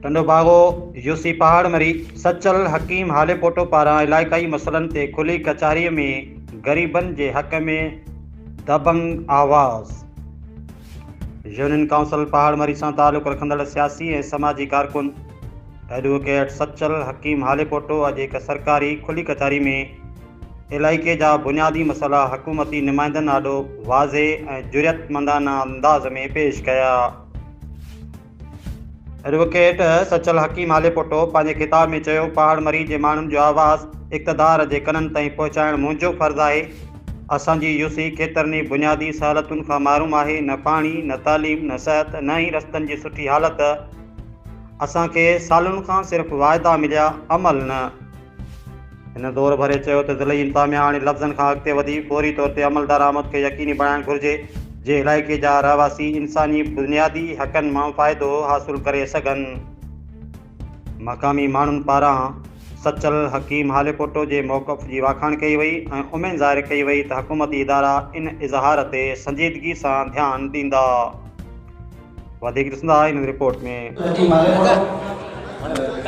Tando Bago, U C Pahar Mari, Sachal Hakim Halepoto پاران علائقائي مسئلن تي کلي ڪچهريء ۾ غريبن جي حق ۾ دبنگ آواز. يونين ڪائونسل پهاڙ مري سان تعلق رکندڙ سياسي ۽ سماجي ڪارڪن ايڊووڪيٽ سچل حڪيم هاليپوٽو اڄ هڪ سرڪاري کلي ڪچهري ۾ علائقي جا بنيادي مسئلا حڪومتي نمائندن آڏو واضح ۽ جرئتمندانه انداز ۾ پيش ڪيا. ايڊووڪيٽ سچل حڪيم آليپوٽو پنهنجي خطاب ۾ چيو، پهاڙ مري جي ماڻهن جو آواز اقتدار جي ڪنن تائين پهچائڻ منهنجو فرض آهي، اسان جي يو سي ڪيترن ئي بنيادي سهولتن کان محروم آهي، نه پاڻي، نه تعليم، نه صحت، نه ئي رستن جي سٺي حالت، اسان کي سالن کان صرف واعدا مليا، عمل نه. هن زور ڀري چيو ته ضلعي انتظاميا هاڻي لفظن کان اڳتي وڌي فوري طور تي عملدار آمد کي يقيني بڻائڻ گهرجي جي علائقي جا رهواسي انساني بنيادي حقن مان فائدو حاصل ڪري سگهن. مقامي ماڻهن پاران سچل حڪيم هاليپوٽو جي موقف جي واکاڻ ڪئي وئي ۽ اميد ظاهر ڪئي وئي ته حڪومتي ادارا ان اظهار تي سنجيدگي سان ڌيان ڏيندا. وڌيڪ ڏسندا هن رپورٽ ۾.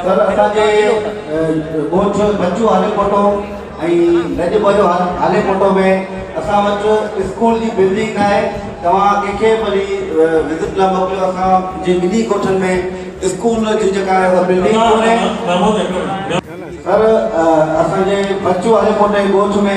سر اسان جي ڳوٺ بچو هالي پوٽو ۽ لڄ ٻه جو هالي پوٽو ۾ اسان وٽ اسڪول جي بلڊنگ نه آهي توهان ڪنهن کي به وڃي وزٽ لاء موڪليو اسان جي ٻنهي ڳوٺن ۾ اسڪول جي جيڪا آهي اها بلڊنگ ڪونهي سر اسان جي بچو هالي پوٽي ڳوٺ ۾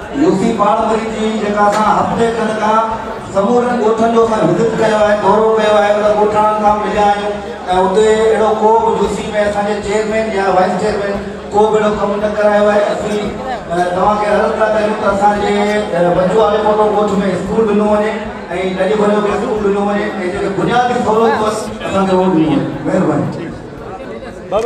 يوسي پاڻمري جي جيڪا اسان هفتي کن کان سمورن ڳوٺن جو اسان وزٽ ڪيو آهي دورو ڪيو آهي انهن ڳوٺاڻن سان مليا آهيون ۽ اتي اهڙو ڪو به يوسي ۾ اسان جي چيئرمين يا وائيس چيئرمين ڪو به اهڙو ڪم نه ڪرايو آهي اسين توهان کي عرض ٿا ڪريون ته اسان جي بچو آلي ڪوٽو ڳوٺ ۾ اسڪول ڏنو وڃي ۽ ڏاڏي ڀريو کي اسڪول ڏنو وڃي ۽ جيڪي بنيادي سهولتون آهن اسان کي اهو ڏنيون وڃن مهرباني.